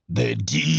The DC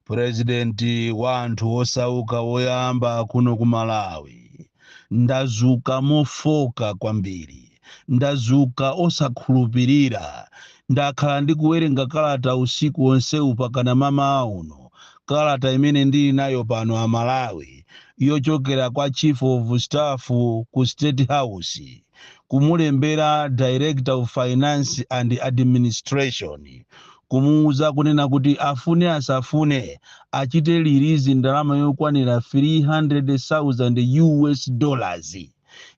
purezidenti wa anthu osauka woyamba kuno ku Malawi ndazuka mofoka kwambiri ndazuka osakhulupirira ndakhala ndikuwerenga kalata usiku wonsewu pakana mamawa uno kalata imene ndili nayo pano a Malawi yochokera kwa chief of staff ku state house kumulembera Director of Finance and Administration kumuuza kunena kuti afune asafune achite lirizi ndalama yokwanira 300,000 US dollars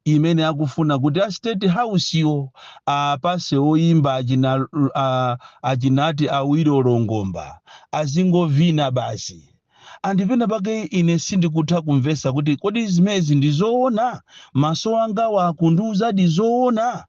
imene akufuna kuti a state house yo apase oyimba achina uh, achinati Awilo Longomba azingovina basi Ndipo penapake ine sindikutha kumvetsa kuti kodi zimezi ndi zoona? Maso angawa akundiuzadi zoona?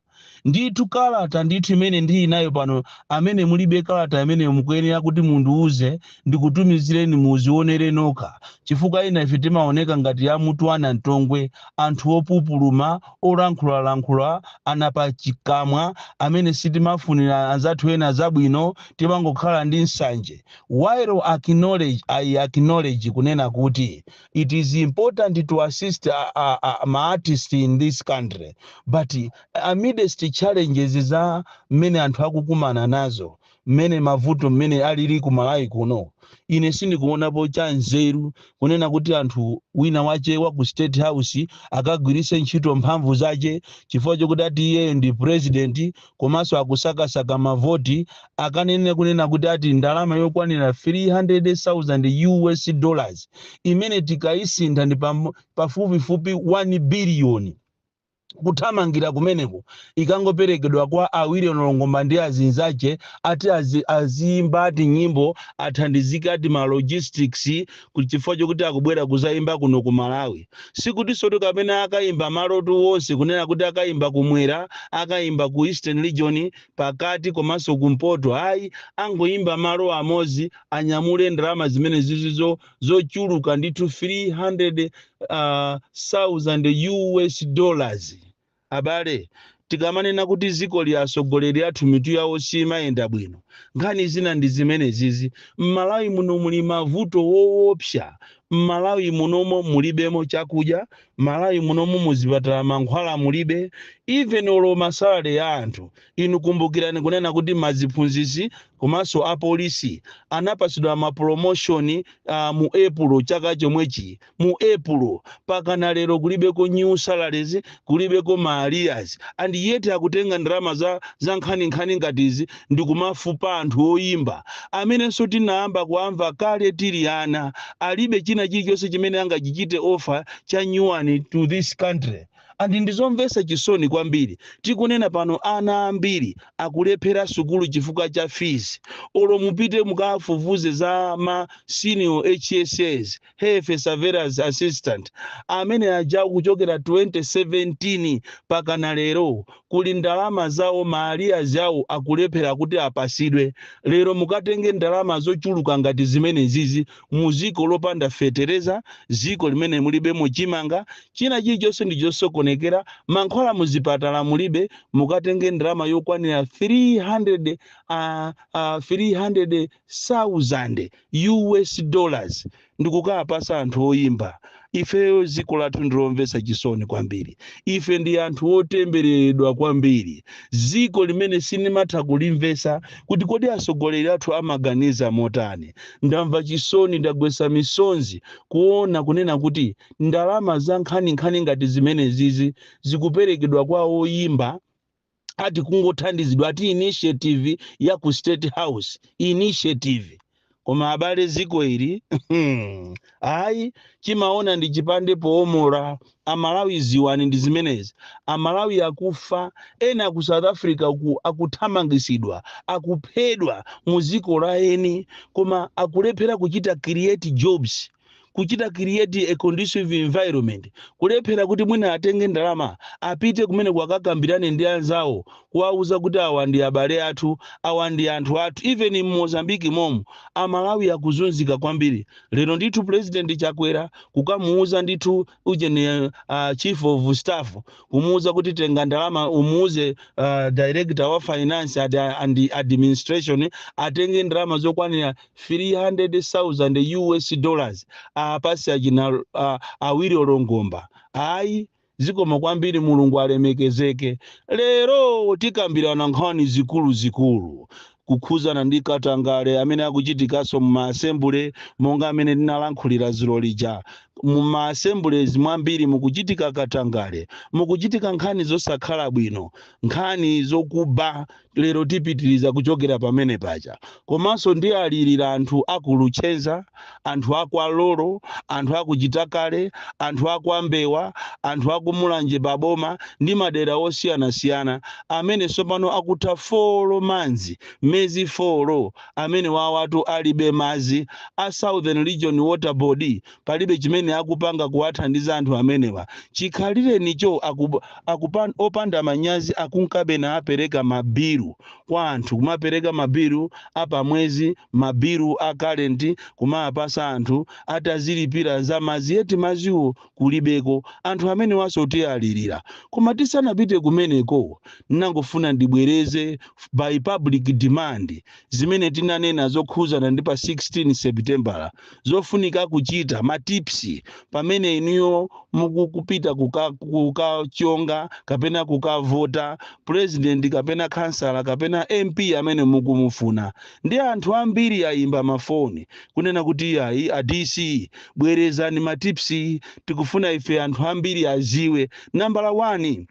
Ndithu kalata ndithu imene ndili nayo pano amene mulibe kalata imeneyo mukuyenera kuti mundiuze ndikutumizireni muzionere nokha chifukwa ena ife timaoneka ngati a mutu wa nantongwe anthu opupuluma olankhulalankhula ana pachikamwa amene sitimafunira anzathu ena zabwino timangokhala ndi nsanje While I acknowledge, I acknowledge kunena kuti it is important to assist a, a, a, ma artist in this country but amidst challenges za mmene anthu akukumana nazo mmene mavuto mmene alili ku Malawi kuno ine sindikuonapo cha nzeru kunena kuti anthu wina wache wa ku state house akagwiritse ntchito mphamvu zache chifukwa chokuti ati iyeyo ndi president komanso akusakasaka mavoti akanene kunena kuti ati ndalama yokwanira 300,000 US dollars imene tikayisintha ndi pam- pafupifupi 1 biliyoni kuthamangira kumeneko ikangoperekedwa kwa Awilo Longomba ndi azinzache ati azi, aziyimba ati nyimbo athandizike ati ma logistics ku- chifukwa chokuti akubwera kuzaimba kuno ku malawi sikutinsotu kapena akaimba malotu wonse kunena kuti akaimba kumwera akaimba ku eastern region pakati komanso kumpoto ayi angoimba malo amodzi anyamule ndalama zimene zizizo zochuluka ndithu 300 uh, 1000 us dollars Abale, tikamanena kuti zikoli atsogoleri athu mitu yawo simayenda bwino, nkhani zina ndi zimenezizi. Mmalawi muno muli mavuto woopsa. Mmalawi munomo mulibemo chakudya, Malawi munomo muzipatala mankhwala mulibe, even olo ma salary ya anthu. Inu kumbukirani kunena kuti maziphunzitsi komanso apolisi anapatsidwa ma promotion mu Epulo chaka chomwechi. mu epulo pakana lero kulibeko new salaries kulibeko ma arrears and yet akutenga ndalama za, za nkhaninkhani ngati izi ndikumafupa anthu oyimba amenenso tinayamba kuamva kale tili ana alibe china chilichonse chimene angachichite offer cha nyuwani to this country and ndizomvesa chisoni kwambiri tikunena pano ana ambiri akulephera sukulu chifukwa cha fees olo mupite mukafufuze za ma senior hss health surveillance assistant amene aja kuchokera 2017 pakana lero kuli ndalama zawo ma arrears awo akulephera kuti apasidwe lero mukatenge ndalama zochuluka ngati zimenezizi mu ziko lopanda fetereza ziko limene mulibemo chimanga china chilichonse ndi chosokonekera mankhwala muzipatala mulibe mukatenge ndalama yokwanira 300 uh, uh, 300 sauzande US dollars ndikukawapasa anthu oyimba ifeyo ziko lathu ndilomvesa chisoni kwambiri ife ndi anthu otembereredwa kwambiri ziko limene sinimatha kulimvesa kuti kodi asogoleri athu amaganiza motani ndamva chisoni ndagwesa misonzi kuona kunena kuti ndalama za nkhaninkhani ngati zimenezizi zikuperekedwa kwa oyimba ati kungothandizidwa ati initiative ya ku state house initiative koma abale ziko ili ayi chimaona ndi chipande poomora amalawi ziwani ndi zimenezi amalawi akufa ena ku south africa uku akuthamangisidwa akuphedwa mu ziko la eni koma akulephera kuchita create jobs kuchita create a conducive environment kulephera kuti mwina atenge ndalama apite kumene akakambirane ndi anzawo kuwauza kuti awa ndi abale athu awa ndi anthu athu even in mozambique momo amalawi akuzunzika kwambiri lero ndithu president chakwera kukamuuza ndithu ujeni uh, chief of staff kumuuza kuti tenga ndalama umuuze uh, director wa finance ad, and administration atenge ndalama zokwanira 300,000 US dollars apasi achina uh, Wilo Longomba ayi zikomo kwambiri mulungu alemekezeke lero tikambirana nkhani zikuluzikulu kukhuzana ndi katangale amene akuchitikanso mu ma assembly monga amene ndinalankhulira dzulo lija mu ma assemblies mwambiri mukuchitika katangale mukuchitika nkhani zosakhala bwino nkhani zokuba lero tipitiriza kuchokera pamene paja komanso ndiwalirira anthu aku Luchenza anthu a kwa Lolo, anthu a ku Chitakale, anthu a kwa Mbewa, anthu a ku Mulanje pa boma ndi madera osiyanasiyana amene tsopano akutha folo manzi, mezi folo, amenewawatu alibe mazi, a Southern Region Water Board palibe chimene akupanga kuwathandiza anthu amenewa, chikhalirenicho opanda manyazi akunkabe naapereka ma bilu kwa anthu kumapereka mabilu a pa mwezi mabilu a current kumawapasa anthu atazilipira za mazi yet maziwo kulibeko anthu amenewaso tialilira koma tisanapite kumeneko nangofuna ndibwereze by public demand zimene tinanena zokhuzana ndi pa 16 sepitembala zofunika kuchita, ma tips pamene inuyo mukupita kukachonga kapena kukavota president kapena khansala kapena MP amene mukumufuna ndi anthu ambiri ayimba mafoni kunena kuti iyayi a DC bwerezani ma tips tikufuna ife anthu ambiri aziwe nambala 1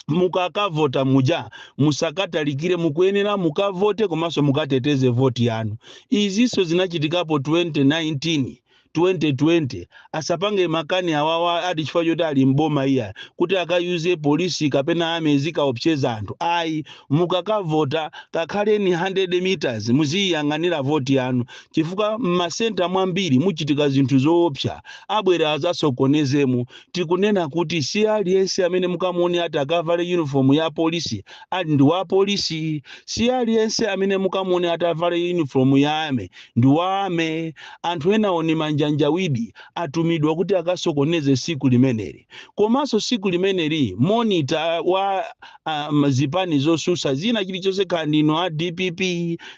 mukakavota muja musakatalikire mukuyenera mukavote komanso mukateteze voti yanu izinso zinachitikapo 2019 2020 asapange makani awawa ati chifukwa choti ali mboma iya kuti akayuze polisi kapena army izikaopseza anthu ayi mukakavota kakhaleni 100 meters muziyiyang'anira voti yanu chifukwa m'masenta mwambiri muchitika zinthu zoopsa abwera azasokonezemo Tikunena kuti si aliyense amene mukamuone atakavale uniform ya polisi ali ndi wa polisi, si aliyense amene mukamuone atavale uniform ya army ndi wa army. Anthu enawo ni manjanjawidi atumidwa kuti akasokoneze siku limeneli. Komanso siku limeneli monitor wa um, zipani zosusa zina chilichonse kaya ndinu a dpp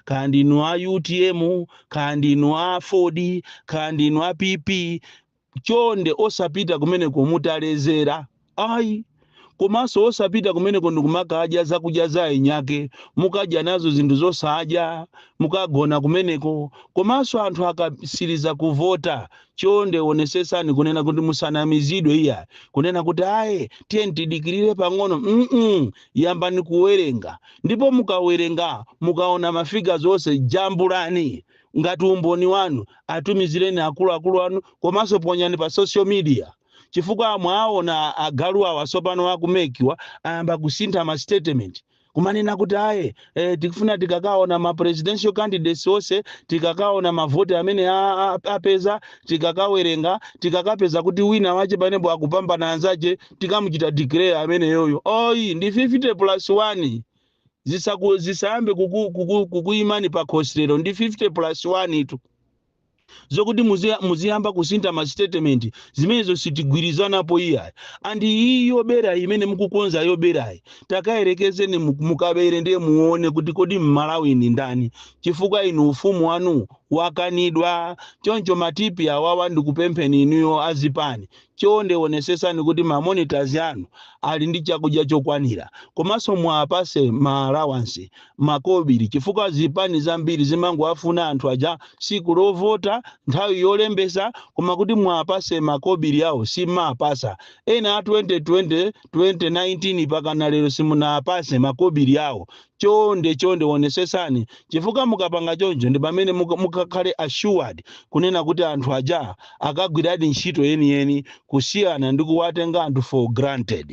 kaya ndinu a utm kaya ndinu a aford kaya ndinu a pp chonde osapita kumeneko mutalezera ayi komanso osapita kumeneko ndikumakadya zakudya za enyake mukadya nazo zinthu zosadya mukagona kumeneko komanso anthu akasiriza kuvota chonde onesesani kunena kuti musanamizidwe iya kunena kuti aye tiye tidikirire pang'ono mm -mm. yambani kuwerenga ndipo mukawerenga mukaona mafiga zonse jambulani ngati umboni wanu atumizireni akuluakulu anu komanso ponyani pa social media chifukwa mwaona agalu awa tsopano aku mec wa ayamba kusintha ma statement kumanena kuti aye eh, tikufuna tikakaona ma presidential candidates onse tikakaona mavoti amene a- a- apeza tikakawerenga tikakapeza kuti wina wache panepo akupambana anzache tikamuchita declare ameneyoyo oyi ndi 50 plus 1 zisayambe kukuyimani pa khosi lero ndi 50 plus 1 tu zokuti muziyamba kusintha ma statement zimenezo sitigwirizanapo iyayi and iyi yoberayi imene mukukonza yoberayi takayerekezeni mukabere ndiye muone kuti kodi mmalawi ndi ndani chifukwa inu ufumu wanu wakanidwa choncho matipi awawa. Ndikupempheni inuyo azipani Chonde onesetsani kuti ma monitors anu ali ndi chakudya chokwanira komanso muwapatse ma allowance, makobili, chifukwa zipani zambiri zimangowafuna anthu aja tsiku lovota, nthawi yolembetsa koma kuti muwapatse makobili awo sim'mawapatsa. Ena a 2020, 2019 pakana lero simunawapatse makobili awo chonde chonde wonesesani chifukwa mukapanga choncho ndipamene mukakhale assured kunena kuti anthu aja akagwiradi ntchito yeniyeni kusiyana ndi kuwatenga anthu for granted.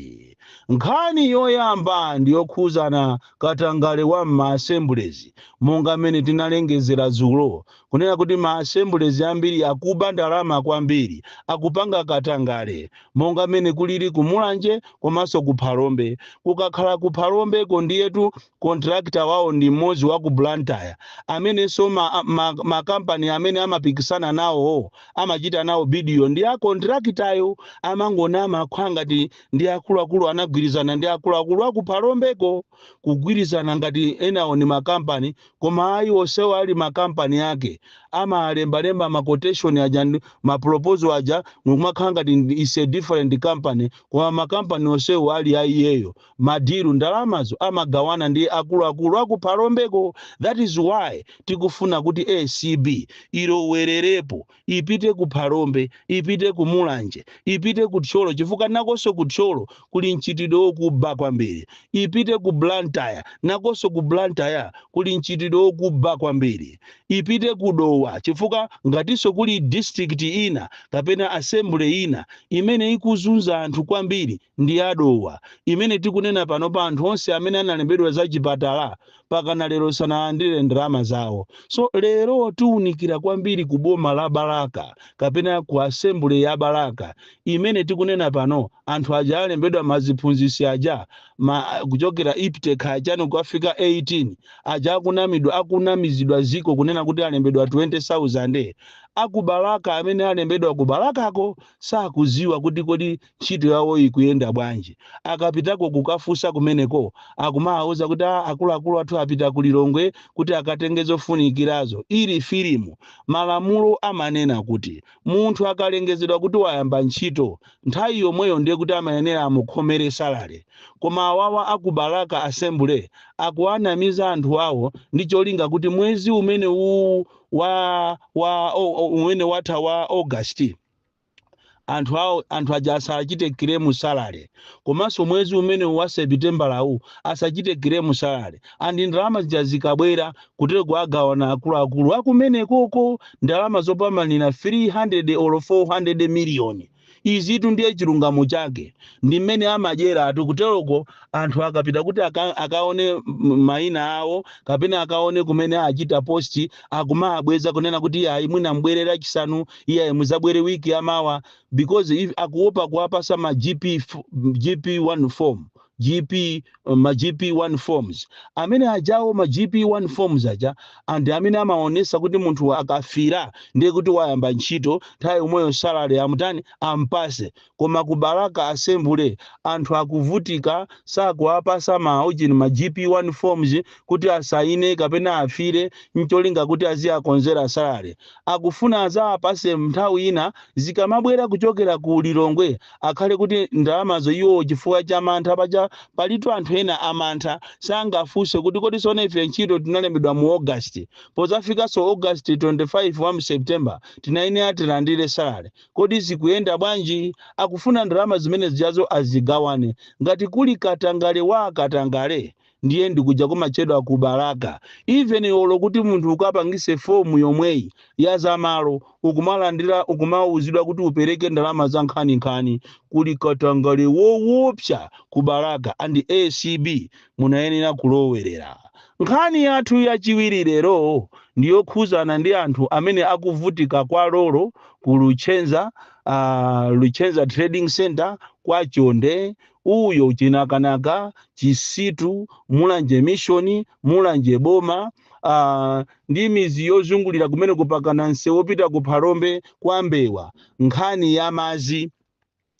Nkhani yoyamba ndiyokhuzana katangale wa mma assemblies monga mmene tinalengezera dzulo kunena kuti ma assemblies ambiri akuba ndalama kwambiri, akupanga katangale, monga mmene kulili ku Mulanje komanso ku Phalombe. Kukakhala ku Phalombeko ndiyetu contractor wawo ndi mmodzi wa ku Blantyre, amenenso ma company amene amapikisana nawo amachita nawo bid yo ndi a contractor yo. Amangonama kukhala ngati ndi akuluakulu anagwirizana ndi akuluakulu a ku Phalombeko, kugwirizana ngati enawo ndi ma company. koma ayi onsewo ali ma company ake amalembalemba ma quotation aja ndi ma proposal aja ndikumakhala ngati it is a different company koma ma company onsewo ali a iyeyo ma deal ndalamazo amagawana ndi akuluakulu a ku Phalombeko that is why tikufuna kuti acb ilowelerepo ipite ku phalombe ipite ku mulanje ipite ku thyolo chifukwa nakonso ku thyolo kuli mchitidwe wokuba kwambiri ipite ku blantyre nakonso ku blantyre kuli mchitidwe wokuba kwambiri ipite ku dowa chifukwa ngatinso kuli district ina kapena assembly ina imene ikuzunza anthu kwambiri ndi ya Dowa imene tikunena panopa anthu onse amene analembedwa za chipatala pakana lero sanalandire ndalama zawo so lero tiunikira kwambiri ku boma la Balaka kapena ku assembly ya Balaka imene tikunena pano anthu aja alembedwa maziphunzisi aja kuchokera IPTE kachani kukafika 18 aja akunamizidwa ziko kunena kuti alembedwa 20000 a ku Balaka amene alembedwa ku Balakako sakuziwa kuti kodi ntchito yawo ikuyenda bwanji. Akapitako kukafunsa kumeneko akumawauza kuti a akuluakulu athu apita ku Lilongwe kuti akatenge zofunikirazo. Ili filimu. Malamulo amanena kuti munthu akalengezedwa kuti wayamba ntchito, nthawi yomweyo ndiye kuti amayenera amukhomere salary. Koma awawa a ku Balaka Assembly akuwanamiza anthu awo ndi cholinga kuti mwezi umenewuwu wa wa o, o, umene watha wa August, anthu aja asachite claim salary komanso mwezi umene wa sepitembala uwu asachite claim salary and ndalama zija zikabwera kuteroko agawana akuluakulu akumenekoko ndalama zopamanira 300 or 400 million izitu ndiye chilungamo chake ndi mmene amadyera anthu kuteroko anthu akapita kuti aka, akaone m- maina awo kapena akaone kumene achita posti akumawabweza kunena kuti iyayi mwina mbwere lachisanu iyayi muzabwere wiki yamawa because if akuopa kuwapasa ma gp f- gp 1 form gp uh, ma gp 1 forms amene ajawo ma gp 1 forms aja and amene amaonesa kuti munthu akafila ndiye kuti wayamba ntchito nthawi yomweyo salary amutani ampase koma ku balaka asembule anthu akuvutika sakuwapasa ma ujin ma gp1 forms kuti asaine kapena afile ncholinga kuti aziakonzera salary akufuna azawapase nthawi ina zikamabwera kuchokera ku lilongwe akhale kuti ndalamazo iwowo chifukwa cha mantha paja palitu anthu ena amantha sangafunse kuti kodi sona ife ntchito tinalembedwa mu august pozafikanso august 25 wa september tinayenera tilandire salary Kodi zikuyenda bwanji? Akufuna ndalama zimene zijazo azigawane. Ngati kuli katangale wa katangale ndiye ndi kuja kumatchedwa ku Balaka. Even olo kuti munthu ukapangise form yomweyi ya za malo, ukumalandira ukumauzidwa kuti upereke ndalama za nkhaninkhani. Kuli katangale woopsa ku Balaka and acb Munayenera kulowerera. Nkhani yathu yachiwiri lero ndi yokhuzana ndi anthu amene akuvutika kwa Lolo ku Luchenza, a Luchenza Trading Centre, kwa Chonde, Uyo, Chinakanaka, Chisitu, Mulanje Mission, Mulanje Boma, a ndi midzi yozungulira kumeneko pakana msewu opita ku Phalombe, kwa Mbewa. Nkhani ya madzi.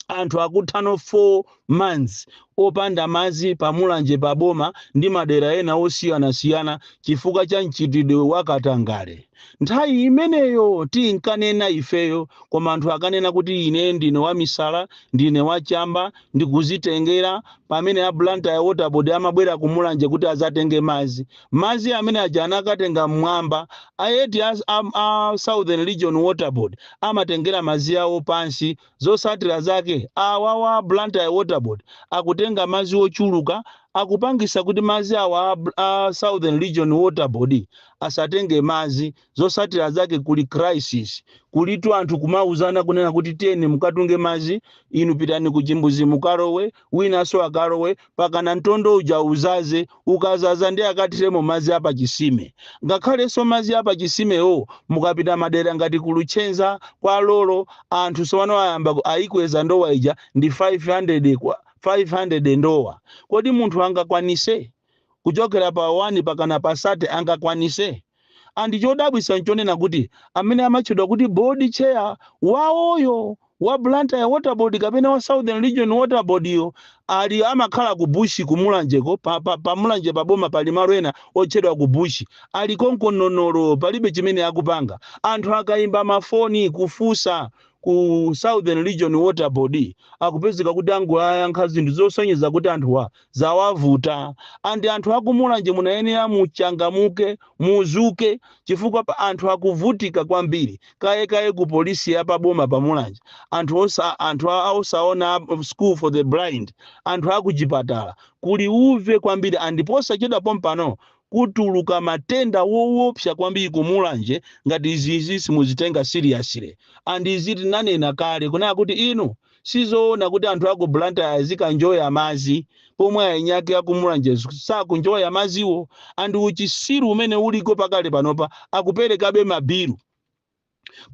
anthu akutha no 4 months opanda madzi pa Mulanje pa boma ndi madera ena osiyanasiyana chifukwa cha mchitidwe wa katangale. Nthawi imeneyo tinkanena ifeyo koma anthu ankanena kuti ine ndine wamisala, ndine wa chamba, ndikuzitengera pamene a Blantyre Water Board amabwera ku Mulanje kuti adzatenge madzi. Madzi amene aja anakatenga mmwamba. A eti a, a, a Southern Region Water Board amatengera madzi awo pansi Zosatila zake awawa a Blantyre Water Board akutenga madzi ochuluka akupangisa kuti madzi awa a Southern Region Water Board asatenge madzi zosatila zake kuli crisis kulitu anthu kumauzana kunena kuti tiyeni mukatunge madzi inu pitani ku chimbuzi mukalowe Winanso akalowe pakana mtondo uja udzadze ukadzadza nde akathiremo madzi a pachitsime. Ngakhalenso madzi a pachitsimewo mukapita madera ngati ku Luchenza, kwa Lolo anthu tsopano ayamba ayikweza ndowa ija ndi 500 kwa 500 ndowa. Kodi munthu angakwanise? kuchokera pa 1 pakana pa 30 angakwanise? And chodabwisa nchonena kuti amene amatchedwa kuti board chair wawoyo wa Blantyre water board kapena wa Southern region water board yo ali amakhala ku bush ku Mulanje ko pa, pa, pa Mulanje pa boma pali malo ena otchedwa ku bush ali konko nonolo palibe chimene akupanga anthu akaimba mafoni kufunsa ku Southern region water board akupezeka kuti angoyankha zinthu zosonyeza kuti anthuwa zawavuta and anthu akumulanje munayenera muchangamuke muzuke chifukwa apa anthu akuvutika kwambiri kaye kaye ku polisi ya pa boma pa mulanje anthu osa anthu a- a- osaona a- school for the blind anthu akuchipatala kuli uve kwambiri and posachedwa pompano kutuluka matenda wowopsa kwambiri kumulanje ngati izizi simuzitenga seriously and izi tinanena kale kunena kuti inu Sizoona kuti anthu aku Blantyre azikanjoya madzi pomwe eni ake aku Mulanje sakunjoya madziwo and uchisiru umene uliko pakali panopa akupelekabe ma bill.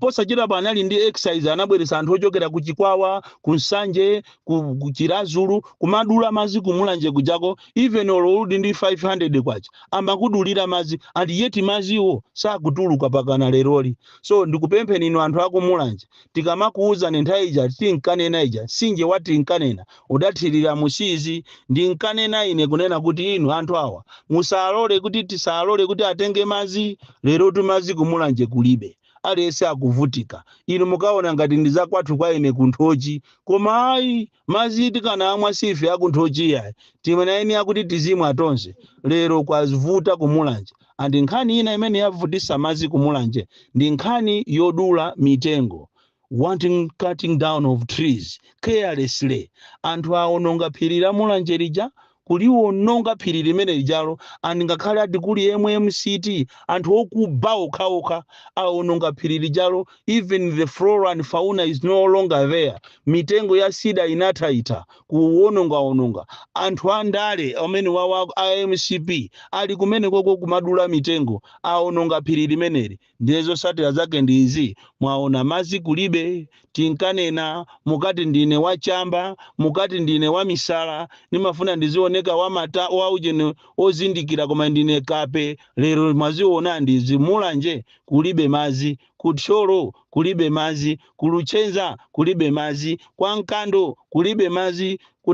Posachedwapa anali ndi exercise anabweretsa anthu ochokera ku Chikwawa, ku Nsanje, ku ku Chiradzulu kumadula madzi ku Mulanje kujako even olo uli ndi K500 amakudulira madzi and yet madziwo sakutuluka pakana leroli. So ndikupempheni inu anthu aku Mulanje tikamakuuzani nthawi ija tinkanena ija tsinje wa tinkanena udathira mu siizi ndinkanena ine kunena kuti inu anthu awa musalole kuti tisalole kuti atenge madzi lerotu madzi kumulanje kulibe aliyense akuvutika inu mukaona ngati ndi zakwathu kwa ine ku nthochi koma ayi Madzi tikanamwa si ife aku nthochi iyayi timanena ine kuti tizimwa tonse lero kwavuta ku mulanje and nkhani ina imene yavutitsa madzi ku mulanje ndi nkhani yodula mitengo wanton cutting down of trees carelessly anthu awononga phiri la mulanje lija kuliwononga phiri limene lijalo and ngakhale ati kuli mmct anthu okuba okhaokha awononga phiri lijalo even the flora and fauna is no longer there mitengo ya cedar inathaitha kuwonongawononga anthu andale amenewawa a mcp ali kumenekoko kumadula mitengo awononga phiri limeneli Ndiye zosatira zake ndi izi mwaona mazi kulibe tinkanena mukati ndine wa chamba mukati ndine wa misala ndimafuna ndizioneka wa matama ujeni ozindikira koma ndine kape lero mwaziona ndi izi mulanje kulibe mazi ku thyolo kulibe mazi ku luchenza kulibe mazi kwa nkando kulibe mazi ku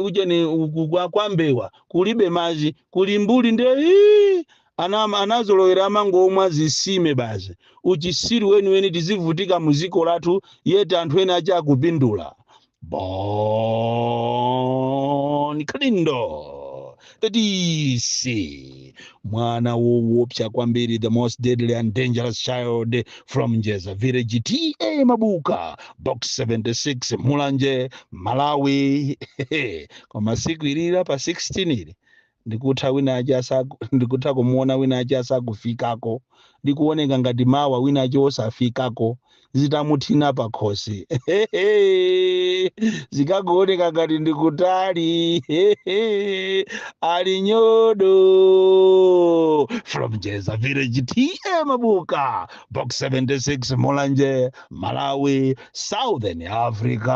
ujeni kwa, kwa mbewa kulibe mazi ku limbuli nde ii, Ana anazolowera amangomwa zisime basi uchisiru weniweni tizivutika muziko lathu yet anthu ena ake akupindula bon kalindo the dc mwana wowopsa kwambiri the most deadly and dangerous child from njeza village ta mabuka box 76 mulanje malawi koma siku ili la pa 16 ili Ndikutha wina wake asaku, ndikutha kumuona wina wake asakufikako, likuoneka ngati mawa wina wake osafikako, zitamuthina pakhosi, hehehe, zikakuoneka ngati ndi kutali, hehehe, ali nyodo, from Njeza Village, TA Mabuka, Box 76, Mulanje, Malawi, Southern Africa.